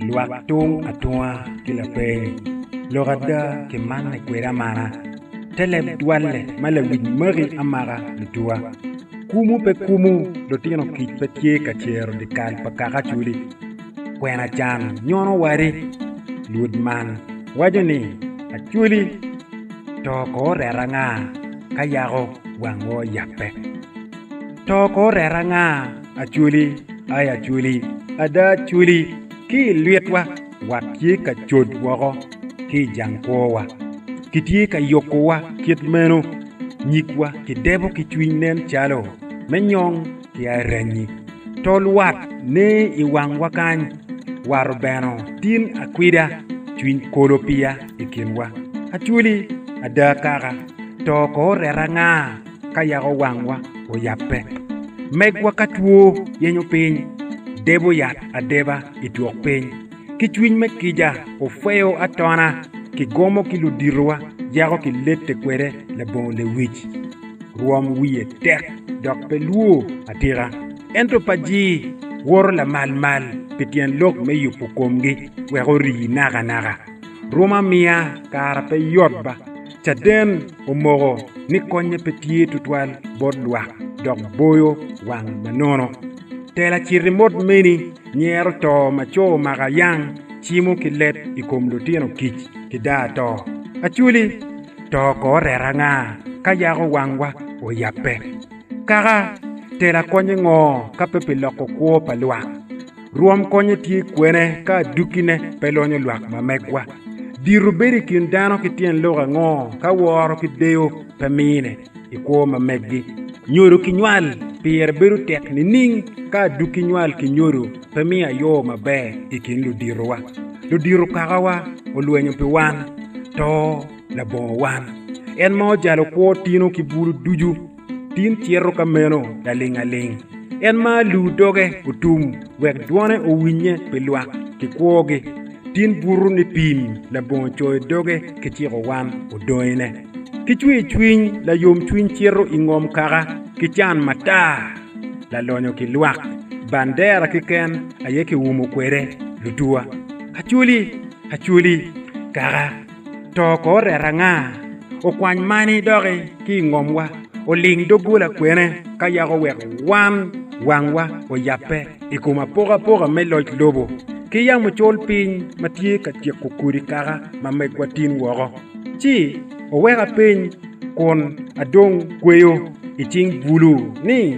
Lwak tung atunga ki lapeeni, lok ada kimanne kwede amana, te leb dwalle ma lawic maki amaka lutuwa. Kumu pe kumu, lutino kic pe tye ka cero dyekal pa kaka acoli. Kwena can nyono wadi. Lwod man waco ni, Acoli, to ko oreta anga ka yako wang woo yape? To ko oreta anga? Acwali, ai Acwali, ada Acwali, ki i lwitwa wat tye ka cod woko ki i jang kwowa. Kitye ka yukowa kit meno, nyigwa kidebo ki cwiny nen calo me nyong ki aranyi. Tol wat ne i wangwa kany, wat obeno tin akwida, cwiny kolo piya i kinwa. Acwali, ada kaka, to ko oreta anga? ka yako wangwa oyabbe. Megwa ka two yenyo piny, debo yat adeba i twok piny. Ki cwiny me kica ofeyo atona, kigomo ki luditowa yako kilette kwede labongo lewic. Rwom wiye tek dok pe lwo atika. Ento paci woto lamal mal pi tyen lok me yubo komgi wek ori nakanaka. Rwom amiya kara pe yot ba. Caden omoko ni konye pe tye tutwal bot lwak dok boyo wang manono. Tela citi mot meni nyero to ma co maka yang cimo ki leb i kom lutino kic ki daa to. Acwli, to ko reta nga ka yako wangwa oyabbe? Kaka, tela konye ngo ka pe pi loko kwo pa lwak? Rwom konye tye kwene ka adukkine pe lonyo lwak ma megwa? Dito bedo i kin dano ki tyen lok ango ka woro ki deyo pe mine i kwo ma meggi? Nyodo ki nywal pire bedo tek nining ka adukki nywal ki nyodo pe miyo ayo maber i kin luditowa? Ludito kakawa olwenyo pi wan, to labongo wan, en ma ojalo kwo tino ki bulu ducu. Tin cito ka meno laling aling. En ma lu doge otum wek dwone owinnye pi lwak ki kwogi. Tin buto ni pim labongo coyo doge ki ciko wan odongine. Ki cwir cwiny layom cwiny cito i ngom kaka ki can matar. Lalonyo ki lwak bandera ki ken aye ki umo kwede lutuwa. Acholi, acholi, kaka. To ko oret anga? Okwany mani doki ki i ngomwa, oling doggola kwene ka yako wek wan wangwa oyabbe i kom apokapoka me loc lobo ki yamo col piny ma tye ka tyeko kodi kaka ma megwa tin woko. Ci oweka piny kun adong kweyo i cing bulu ni,